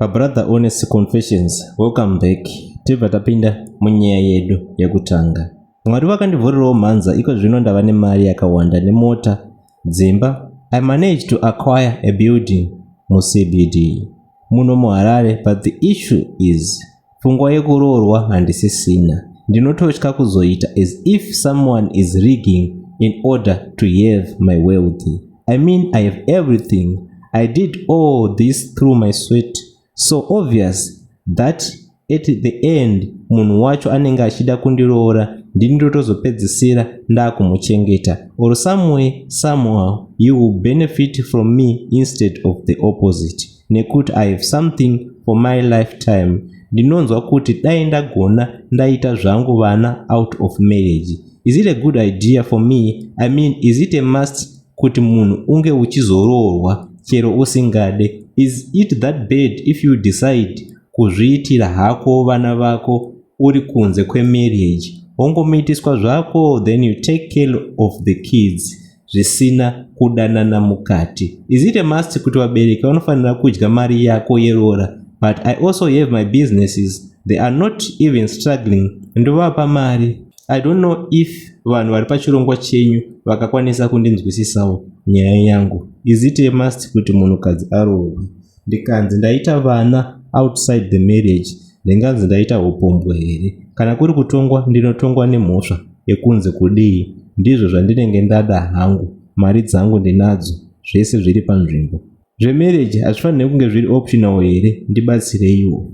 Brother Honest Confessions, welcome back. Tibva tapinda munyaya yedu yekutanga. Mwari vakandivhurirawo mhanza iko zvino ndava nemari yakawanda nemota, dzimba. I managed to acquire a building muCBD muno muHarare but the issue is Pfungwa yekuroorwa handisisina. Ndinototya kuzoita as if someone is rigging in order to have my wealth. I mean I have everything. I did all this through my sweat. So obvious that at the end munhu wacho anenge achida kundiroora ndini ndotozopedzisira ndakumuchengeta or some way somehow you will benefit from me instead of the opposite. nekuti i have something for my lifetime ndinonzwa kuti dai ndagona ndaita zvangu vana out of marriage is it a good idea for me i mean is it a must kuti munhu unge uchizoroorwa chero usingade is it that bad if you decide kuzviitira hako vana vako uri kunze kwemarriage wongomiitiswa zvako then you take care of the kids zvisina kudanana mukati is it a must kuti vabereki vanofanira kudya mari yako yeroora but i also have my businesses they are not even struggling ndovapa mari i don't know if vanhu vari pachirongwa chenyu vakakwanisa kundinzwisisawo nyaya yangu is it a must kuti munhukadzi aroorwe ndikanzi ndaita vana outside the marriage ndinganzi ndaita hupombwe here kana kuri kutongwa ndinotongwa nemhosva yekunze kudii ndizvo zvandinenge ndada hangu mari dzangu ndinadzo zvese zviri panzvimbo zvemarriage hazvifanire kunge zviri optional here ndibatsireiwo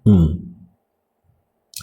mm.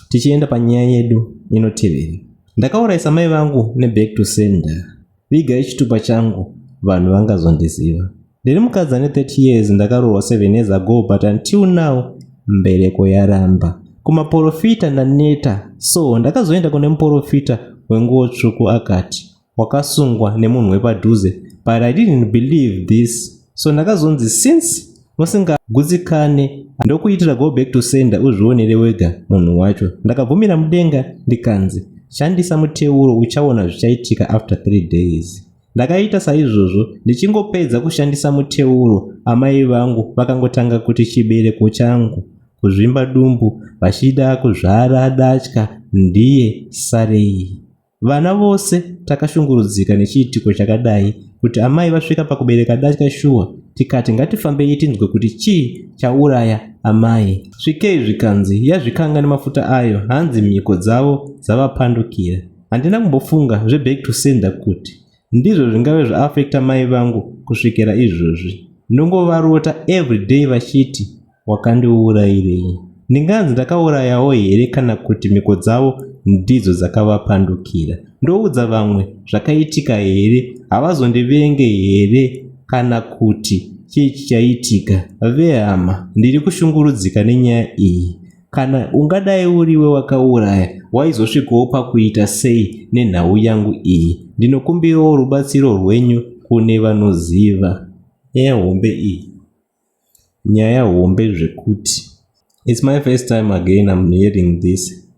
tichienda panyaya yedu inotevera ndakauraisa mai vangu neback to sender viga ichitupa changu vanhu vangazondiziva ndiri mukadzi ane 30 years ndakaroorwa 7 years ago but until now mbereko yaramba kumaporofita ndaneta so ndakazoenda kune muporofita wenguo tsvuku akati wakasungwa nemunhu wepadhuze but i didn't believe this so ndakazonzi since musingagutsikane ndokuitira go back to sender uzvionere wega munhu wacho ndakabvumira mudenga ndikanzi shandisa muteuro uchaona zvichaitika after three days ndakaita saizvozvo ndichingopedza kushandisa muteuro amai vangu vakangotanga kuti chibereko changu kuzvimba dumbu vachida kuzvara datya ndiye sarei Vana vose takashungurudzika nechiitiko chakadai kuti amai vasvika pakubereka datya shuwa tikati ngatifambei tinzwe kuti chii chauraya amai. Svikei zvikanzi yazvikanga nemafuta ayo hanzi mhiko dzavo dzavapandukira. Handina kumbofunga zveback to sender kuti ndizvo zvingave zvaafekta mai vangu kusvikira izvozvi. Ndongovarota everyday vachiti Wakandiurairei? Ndinganzi ndakaurayawo here kana kuti mhiko dzavo ndidzo dzakavapandukira? Ndoudza vamwe zvakaitika here? Havazondivenge here kana kuti chii chichaitika? Vehama, ndiri kushungurudzika nenyaya iyi. Kana ungadai uriwe wakauraya, waizosvikawo pakuita sei nenhau yangu iyi? Ndinokumbirawo rubatsiro rwenyu kune vanoziva nyaya hombe iyi. nyaya hombe zvekuti its my first time again im hearing this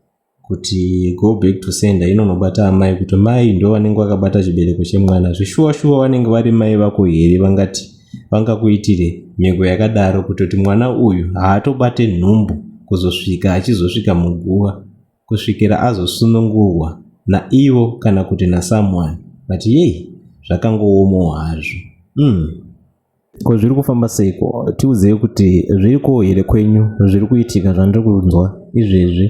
kuti go back to sender inonobata amai kuti mai ndo vanenge vakabata chibereko chemwana zvishuwa shuwa vanenge vari mai vako here vangati vangakuitire mhiko yakadaro kutoti mwana uyu haatobate nhumbu kuzosvika achizosvika muguva kusvikira azosunungurwa naivo kana kuti nasomeone but yei zvakangoomawo hazvo mm. Ko zviri kufamba seiko? Tiudzei kuti zviri ko here kwenyu zviri kuitika zvandiri kunzwa izvezvi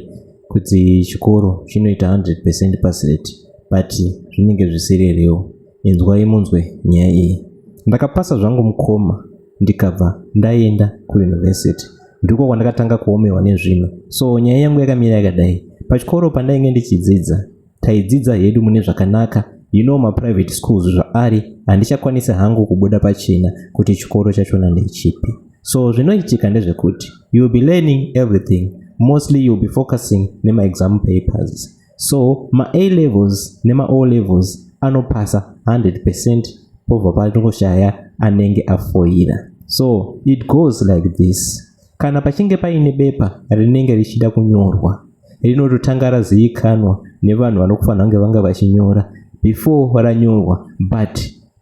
kuti chikoro chinoita 100% pass rate but zvinenge zvisiri real. Inzwai munzwe nyaya iyi. Ndakapasa zvangu mukoma ndikabva ndaenda kuuniversity. Ndiko kwandakatanga kuomerwa nezvinhu. So nyaya yangu yakamira yakadai. Pachikoro pandainge ndichidzidza taidzidza hedu mune zvakanaka you know maprivate schools zvaari handichakwanisi hangu kubuda pachena kuti chikoro chachona ndechipi so zvinoitika ndezvekuti you will be learning everything mostly you will be focusing nemaexam papers so ma-a levels nema-o levels anopasa 100 percent pobva patoshaya anenge afoira so it goes like this Kana pachinge paine bepa rinenge richida kunyorwa, rinototanga razivikanwa nevanhu vanokufanira kunge vanga vachinyora before ranyorwa but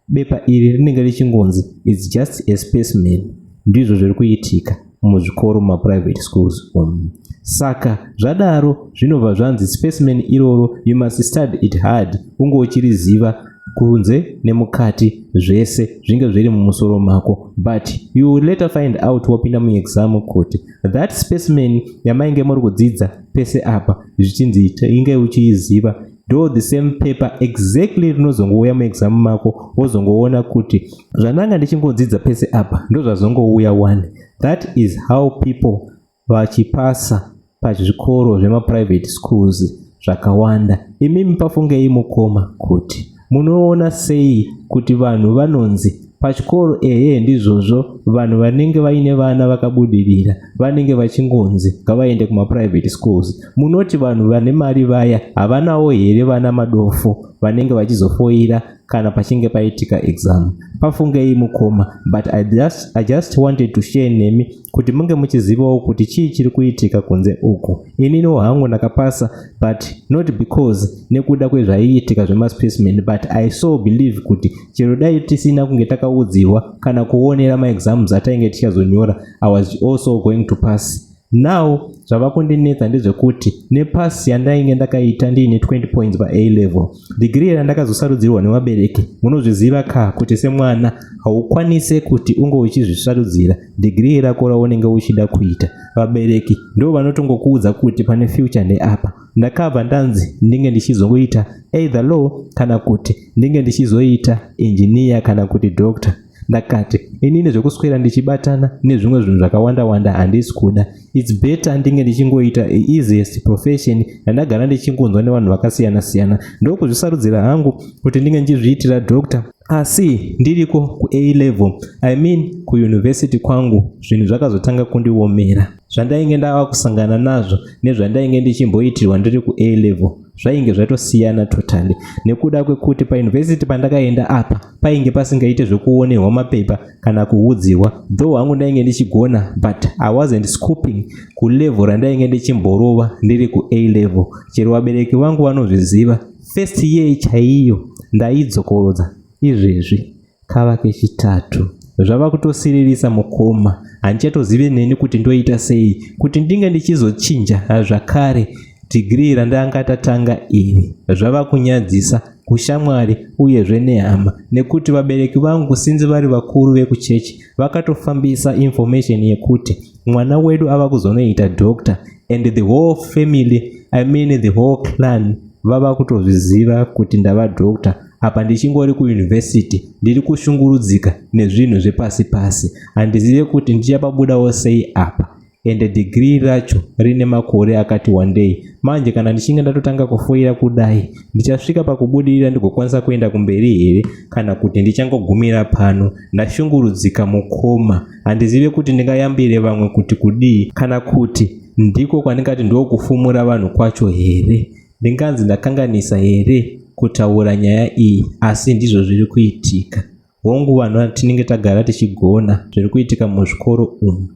bepa iri rinenge richingonzi its just a spaceman ndizvo zviri kuitika muzvikoro mumaprivate schools um. saka zvadaro zvinobva zvanzi spaceman iroro you must study it hard unge uchiriziva kunze nemukati zvese zvinge zviri mumusoro mako but you will later find out wapinda muexam kuti that specimen yamainge muri kudzidza pese apa zvichinzi inge uchiiziva do the same paper exactly rinozongouya muexam mako wozongoona kuti zvandanga ndichingodzidza pese apa ndozvazongouya one that is how people vachipasa pazvikoro zvemaprivate schools zvakawanda imi mupafungei mukoma kuti munoona sei kuti vanhu vanonzi pachikoro ehe ndizvozvo vanhu vanenge vaine vana vakabudirira vanenge vachingonzi ngavaende kumaprivate schools munoti vanhu vane mari vaya havanawo here vana madofo vanenge vachizofoira kana pachinge paitika exam pafungei mukoma but I just, i just wanted to share nemi kuti munge muchizivawo kuti chii chiri kuitika kunze uku ininiwo hangu ndakapasa but not because nekuda kwezvaiitika zvemaspecimen but i so believe kuti chero dai tisina kunge takaudziwa kana kuonera maexams atainge tichazonyora i was also going to pass now zvava kundinetsa ndezvekuti nepasi yandainge ndakaita ndiine 20 points pa a level dhigiri randakazosarudzirwa nevabereki munozviziva ka kuti semwana haukwanise kuti unge uchizvisarudzira degree rako raunenge uchida kuita vabereki ndo vanotongokuudza kuti pane future neapa ndakabva ndanzi ndinge ndichizoita either law kana kuti ndinge ndichizoita engineer kana kuti doctor ndakati inini zvekuswera ndichibatana nezvimwe zvinhu zvakawanda wanda handisi kuda its better ndinge ndichingoita easiest profession yandagara ndichingonzwa nevanhu vakasiyana siyana ndokuzvisarudzira hangu kuti ndinge ndichizviitira doctor asi ndiriko kuA level I mean kuuniversity kwangu zvinhu zvakazotanga kundiomera. Zvandainge ndava kusangana nazvo nezvandainge ndichimboitirwa ndiri kuA level zvainge zvatosiyana totally nekuda kwekuti pauniversity pandakaenda apa painge pasingaite zvekuonerwa mapepa kana kuudzirwa though hangu ndainge ndichigona but i wasn't scooping kulevel randainge ndichimborova ndiri kuA level chero vabereki vangu vanozviziva First year chaiyo ndaidzokorodza izvezvi kava kechitatu zvava kutosiririsa mukoma handichatozive neni kuti ndoita sei kuti ndinge ndichizochinja zvakare dhigirii randanga tatanga iri zvava kunyadzisa kushamwari uyezve nehama nekuti vabereki vangu sinzi vari vakuru vekuchechi vakatofambisa information yekuti mwana wedu ava kuzonoita doctor and the whole family i mean the whole clan vava kutozviziva kuti ndava doctor apa ndichingori kuyunivhesiti ndiri kushungurudzika nezvinhu zvepasi pasi handizive kuti ndichapabudawo sei apa ende dhigiri racho rine makore akati wandei manje kana ndichinge ndatotanga kufoira kudai ndichasvika pakubudirira ndigokwanisa kuenda kumberi here kana kuti ndichangogumira pano ndashungurudzika mukoma Handizive kuti ndingayambire vamwe kuti kudii kana kuti ndiko kwandingati ndokufumura vanhu kwacho here? Ndinganzi ndakanganisa here kutaura nyaya iyi asi ndizvo zviri kuitika. Hongu vanhu tinenge tagara tichigona zviri kuitika muzvikoro umu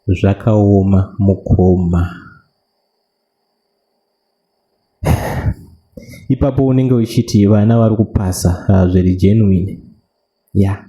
zvakaoma mukoma. ipapo unenge uchiti vana vari kupasa ah, zviri genuine yeah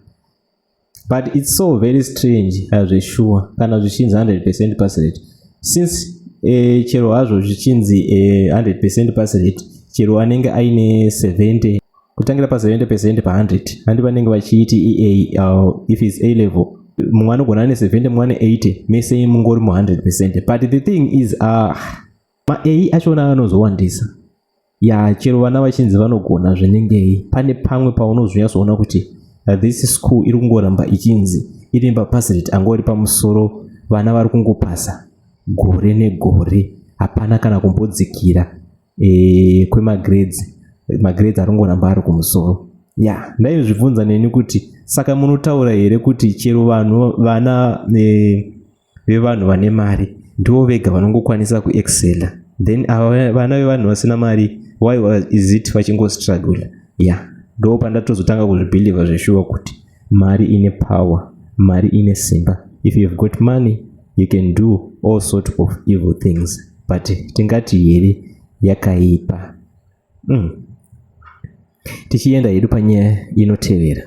but it's so very strange zveshuwa uh, kana zvichinzi 100 percent pass rate since eh, chero hazvo zvichinzi eh, 100 percent pass rate chero anenge aine 70 kutangira pa 70 percent pa 100 handi vanenge vachiiti ea uh, if its a level mumwe anogona ane 70 mumwe ane 80 mese mungori mu 100 percent but the thing is uh, Maei achona anozowandisa. Ya chero vana vachinzi vanogona zvinengei pane pamwe paunozonyatsoona kuti this school iri kungoramba ichinzi iri mapasi rate angori pamusoro vana vari kungopasa gore negore hapana kana kumbodzikira e, kwemagrades magrades ari kungoramba ari kumusoro ya yeah. ndaizvibvunza neni kuti saka munotaura here kuti chero vanhu vana e, vevanhu vane mari ndivo vega vanongokwanisa kuexcela then ava vana vevanhu vasina mari why is it vachingostruggle ya yeah. ndo pandatozotanga kuzvibhilivha zveshuwa kuti mari ine power mari ine simba if you've got money you can do all sort of evil things but tingati here yakaipa mm. tichienda hedu panyaya inotevera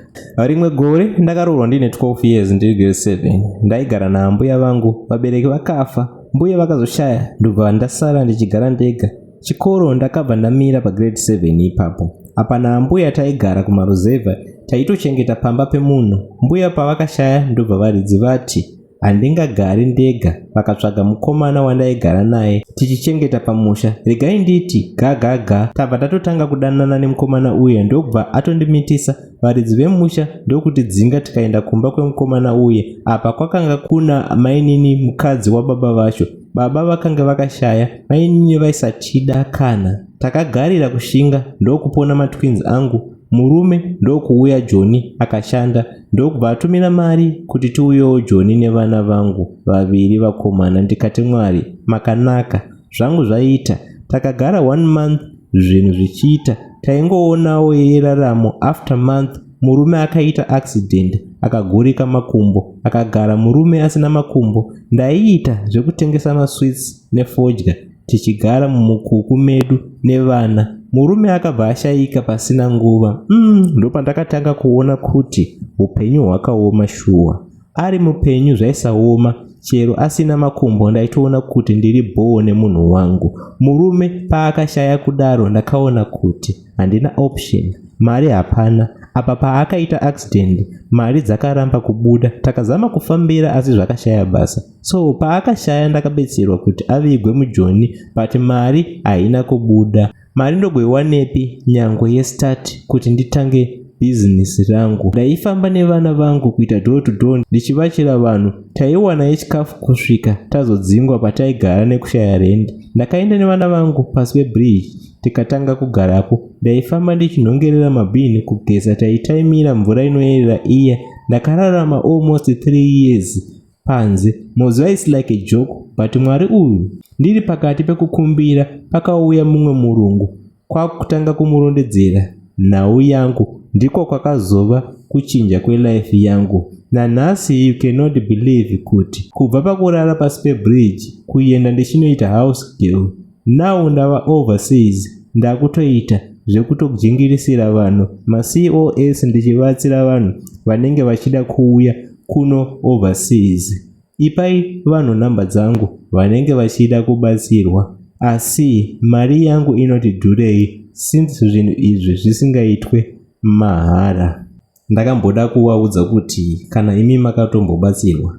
rimwe gore ndakaroorwa ndine 12 years ndiri grade 7 ndaigara naambuya vangu vabereki vakafa mbuya vakazoshaya ndobva ndasara ndichigara ndega chikoro ndakabva ndamira pagrade 7 ipapo apa naambuya taigara kumaruzevha taitochengeta pamba pemunhu mbuya pavakashaya ndobva varidzi vati handingagari ndega vakatsvaga mukomana wandaigara naye tichichengeta pamusha regai nditi gagaga tabva tatotanga kudanana nemukomana uye ndokubva atondimitisa varidzi vemusha ndokutidzinga tikaenda kumba kwemukomana uye apa kwakanga kuna mainini mukadzi wababa vacho baba vakange vakashaya mainini vaisatida kana takagarira kushinga ndokupona matwins angu Murume ndokuuya Joni akashanda ndokubva atumira mari kuti tiuyewo Joni nevana vangu vaviri vakomana ndikati Mwari makanaka zvangu zvaita takagara one month zvinhu zvichiita taingoonawo yeraramo after month murume akaita accident akagurika makumbo akagara murume asina makumbo ndaiita zvekutengesa masweets nefodya tichigara mumukuku medu nevana murume akabva ashaika pasina nguva mm, ndopandakatanga kuona kuti upenyu hwakaoma shuwa ari mupenyu zvaisaoma chero asina makumbo ndaitoona kuti ndiri bhowo nemunhu wangu murume paakashaya kudaro ndakaona kuti handina option mari hapana apa paakaita accident mari dzakaramba kubuda takazama kufambira asi zvakashaya basa so paakashaya ndakabetserwa kuti avigwe mujoni but mari haina kubuda mari ndogoiwanepi nyangwe yestart kuti nditange bhizinesi rangu ndaifamba nevana vangu kuita door to door ndichivachira vanhu taiwana yechikafu kusvika tazodzingwa pataigara nekushaya rendi ndakaenda nevana vangu pasi pebridge tikatanga kugarapo ndaifamba ndichinhongerera mabhini kugeza taitaimira mvura inoyerera iya ndakararama almost three years panze moziva its like a joke but mwari uyu ndiri pakati pekukumbira pakauya mumwe murungu kwakutanga kumurondedzera nhau yangu ndiko kwakazova kuchinja kwelife yangu nanhasi you cannot believe kuti kubva pakurara pasi pebridge kuenda ndichinoita house girl now ndava overseas ndakutoita zvekutogingirisira vanhu macos ndichibatsira vanhu vanenge vachida kuuya kuno overseas ipai vanhu nhamba dzangu vanenge vachida kubatsirwa asi mari yangu inoti dhurei since zvinhu izvi zvisingaitwe mahara ndakamboda kuvaudza kuti kana imi makatombobatsirwa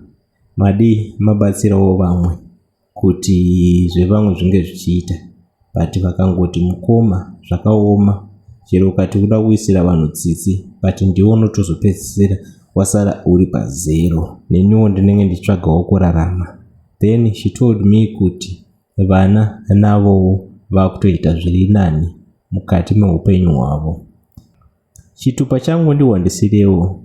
madii mabatsirawo vamwe kuti zvevamwe zvinge zvichiita but vakangoti mukoma zvakaoma chero ukati kuda kuisira vanhu tsitsi but ndiwo unotozopedzisira wasara uri pazero neniwo ndinenge ndichitsvagawo kurarama then she told me kuti vana navowo vakutoita zviri nani mukati meupenyu hwavo Chitupa changu ndihwandisirewo.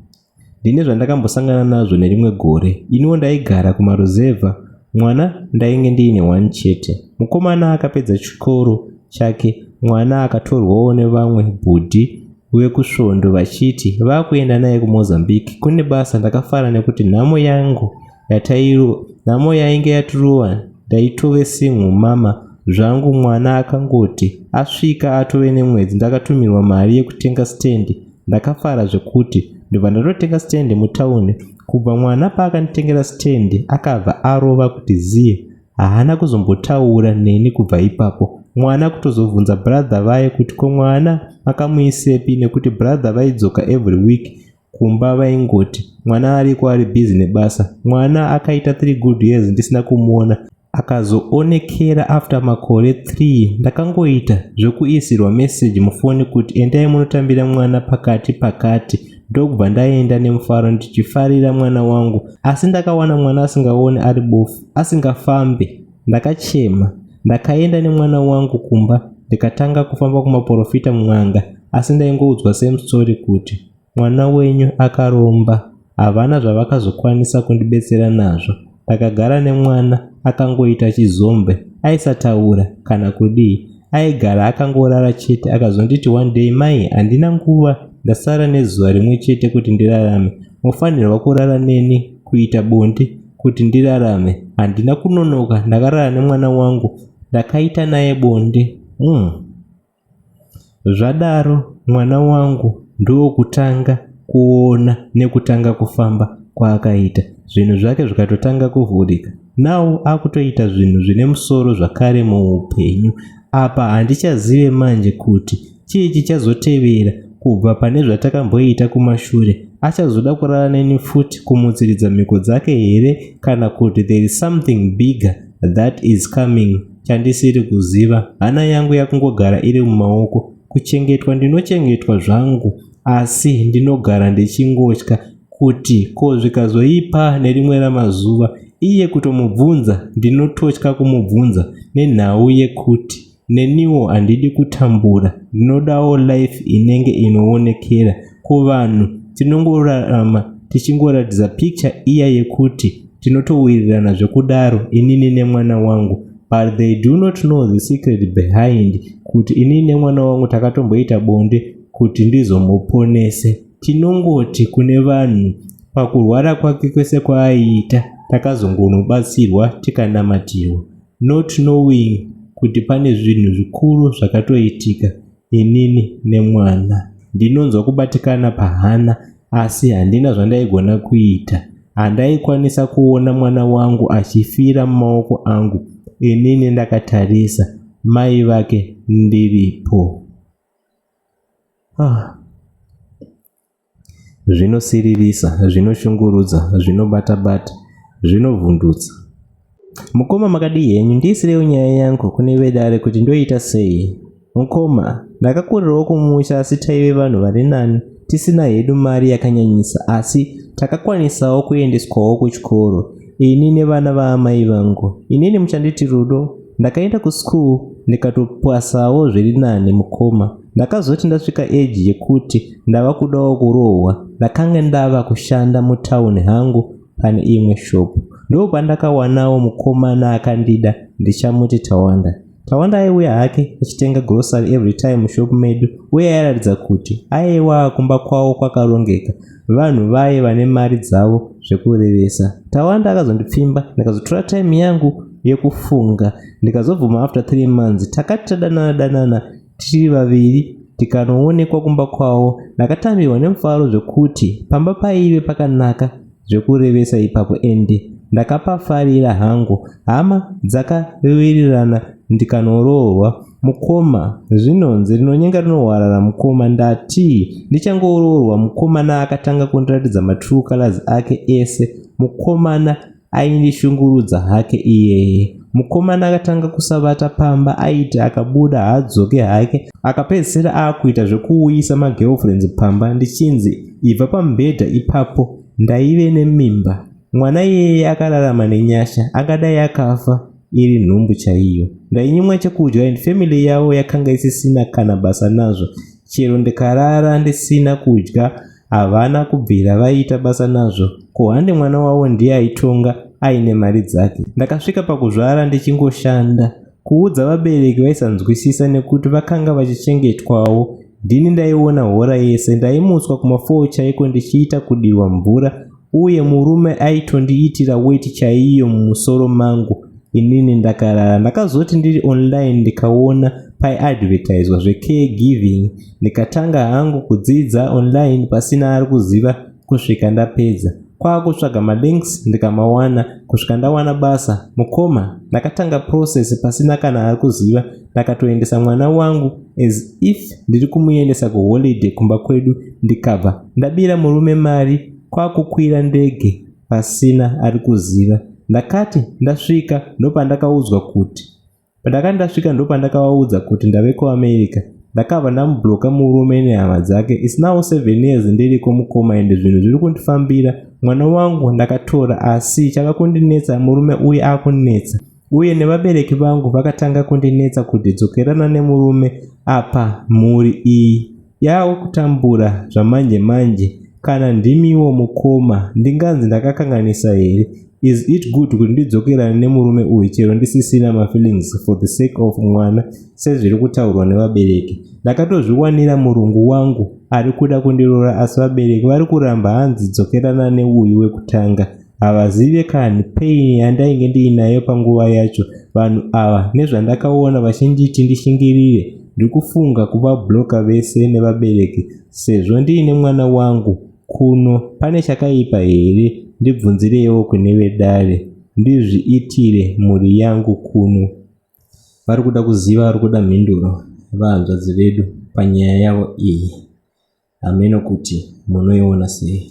Ndine zvandakambosangana nazvo nerimwe gore. Iniwo ndaigara kumaruzevha mwana ndainge ndiine one chete. Mukomana akapedza chikoro chake mwana akatorwawo nevamwe bhudhi vekusvondo vachiti vakuenda naye kumozambique kune basa ndakafara nekuti nhamo yangu yatairo nhamo yainge yatirova ndaitove sinhu mama zvangu mwana akangoti asvika atove nemwedzi ndakatumirwa mari yekutenga stendi ndakafara zvekuti ndobva ndatotenga stendi mutauni kubva mwana paakanditengera stendi akabva arova kuti ziye haana kuzombotaura neni kubva ipapo mwana kutozobvunza brother vaye kuti ko mwana makamuisepi nekuti brother vaidzoka every week kumba vaingoti mwana ariko ari busy nebasa mwana akaita 3 good years ndisina kumuona akazoonekera after makore 3 ndakangoita zvekuisirwa message mufoni kuti endai munotambira mwana pakati pakati ndokubva ndaenda nemufaro ndichifarira mwana wangu asi ndakawana mwana asingaone ari bofu asingafambe ndakachema ndakaenda nemwana wangu kumba ndikatanga kufamba kumaporofita mun'anga asi ndaingoudzwa same story kuti Mwana wenyu akaromba. Havana zvavakazokwanisa kundibetsera nazvo. Ndakagara nemwana akangoita chizombe. Aisataura kana kudii. Aigara akangorara chete akazonditi one day mai handina nguva ndasara nezuva rimwe chete kuti ndirarame. Mofanirwa kurara neni kuita bonde kuti ndirarame. Handina kunonoka ndakarara nemwana wangu ndakaita naye bonde. Umm. Zvadaro mwana wangu ndokutanga kuona nekutanga kufamba kwaakaita zvinhu zvake zvikatotanga kuvhurika now akutoita zvinhu zvine musoro zvakare muupenyu apa handichazive manje kuti chii chichazotevera kubva pane zvatakamboita kumashure achazoda kurara neni futi kumutsiridza mhiko dzake here kana kuti there is something bigger that is coming chandisiri kuziva hana yangu yakungogara iri mumaoko kuchengetwa ndinochengetwa zvangu asi ndinogara ndichingotya kuti ko zvikazoipa nerimwe ramazuva iye kutomubvunza ndinototya kumubvunza nenhau yekuti neniwo handidi kutambura ndinodawo life inenge inoonekera kuvanhu tinongorarama tichingoratidza picture iya yekuti tinotowirirana zvekudaro inini nemwana wangu but they do not know the secret behind kuti inini nemwana wangu takatomboita bonde kuti ndizomuponese tinongoti kune vanhu pakurwara kwake kwese kwaaiita takazongonobatsirwa tikanamatirwa not knowing kuti pane zvinhu zvikuru zvakatoitika Inini nemwana ndinonzwa kubatikana pahana asi handina zvandaigona kuita. Handaikwanisa kuona mwana wangu achifira mumaoko angu inini ndakatarisa mai vake ndiripo. Ah. Zvinosiririsa, zvinoshungurudza, zvinobata-bata, zvinovhundutsa. Mukoma makadii henyu, ndiisireiwo nyaya yangu kune vedare kuti ndoiita sei? Mukoma, ndakakurirawo kumusha asi taive vanhu vari nani, tisina hedu mari yakanyanyisa asi takakwanisawo kuendeswawo kuchikoro ini nevana vaamai vangu. Inini muchanditi Rudo, ndakaenda kuschool ndikatopasawo zviri nani mukoma. Ndakazoti ndasvika age yekuti ndava kudawo kurohwa ndakange ndava kushanda mutown hangu pane imwe shop. Ndoo pandakawanawo mukomana akandida ndichamuti Tawanda. Tawanda aiuya hake achitenga grocery every time mushop medu uye airatidza kuti aiwa kumba kwawo kwakarongeka vanhu vaye vane mari dzavo zvekurevesa. Tawanda akazondipfimba ndikazotora time yangu yekufunga ndikazobvuma after three months takati tadanana danana tiri vaviri tikanoonekwa kumba kwavo ndakatambirwa nemufaro zvekuti pamba paive pakanaka zvekurevesa ipapo endi ndakapafarira hangu hama dzakawirirana ndikanoroorwa mukoma zvinonzi rinonyenga rinohwarara mukoma ndati ndichangoroorwa mukomana akatanga kundiratidza matrue colors ake ese mukomana Aindishungurudza hake iyeye. Mukomana akatanga kusavata pamba aiti akabuda haadzoke hake akapedzisira akuita zvekuuyisa magirlfriends pamba ndichinzi ibva pamubhedha ipapo ndaive nemimba. Mwana iyeye akararama nenyasha akadai akafa iri nhumbu chaiyo. Ndainyimwa chekudya and family yavo yakanga isisina kana basa nazvo chero ndikarara ndisina kudya havana kubvira vaiita basa nazvo ko hande mwana wavo ndiye aitonga aine mari dzake ndakasvika pakuzvara ndichingoshanda kuudza vabereki vaisanzwisisa nekuti vakanga vachichengetwawo ndini ndaiona hora yese ndaimutswa kuma4 chaiko ndichiita kudirwa mvura uye murume aitondiitira weti chaiyo mumusoro mangu inini ndakarara ndakazoti ndiri online ndikaona paiadvertiswa zvecare giving ndikatanga hangu kudzidza online pasina ari kuziva kusvika ndapedza kwaakutsvaga malinks ndikamawana kusvika ndawana basa mukoma ndakatanga process pasina kana ari kuziva ndakatoendesa mwana wangu as if ndiri kumuendesa kuholiday kumba kwedu ndikabva ndabira murume mari kwakukwira ndege pasina ari kuziva ndakati ndasvika ndopandakaudzwa kuti pandakati ndasvika ndopandakavaudza kuti ndave kuamerica ndakabva ndamubloka murume nehama dzake its now seven years ndiriko mukoma ende zvinhu zviri kundifambira mwana wangu ndakatora asi chava kundinetsa murume uye akundinetsa uye nevabereki vangu vakatanga kundinetsa kuti dzokerana nemurume apa mhuri iyi yava kutambura zvamanje manje kana ndimiwo mukoma ndinganzi ndakakanganisa here is it good kuti ndidzokerane nemurume uyu chero ndisisina mafeelings for the sake of mwana sezviri kutaurwa nevabereki ndakatozviwanira murungu wangu ari kuda kundirora asi vabereki vari kuramba hanzi dzokerana neuyu wekutanga havazive kani pain yandainge ndiinayo panguva yacho vanhu ava nezvandakaona vachinditi ndishingirire ndikufunga kuva bloka vese nevabereki sezvo ndiine mwana wangu kuno pane chakaipa here ndibvunzireiwo kune vedare ndizviitire mhuri yangu kuno vari kuda kuziva vari kuda mhinduro vahanzvadzi vedu panyaya yavo iyi hameno kuti munoiona sei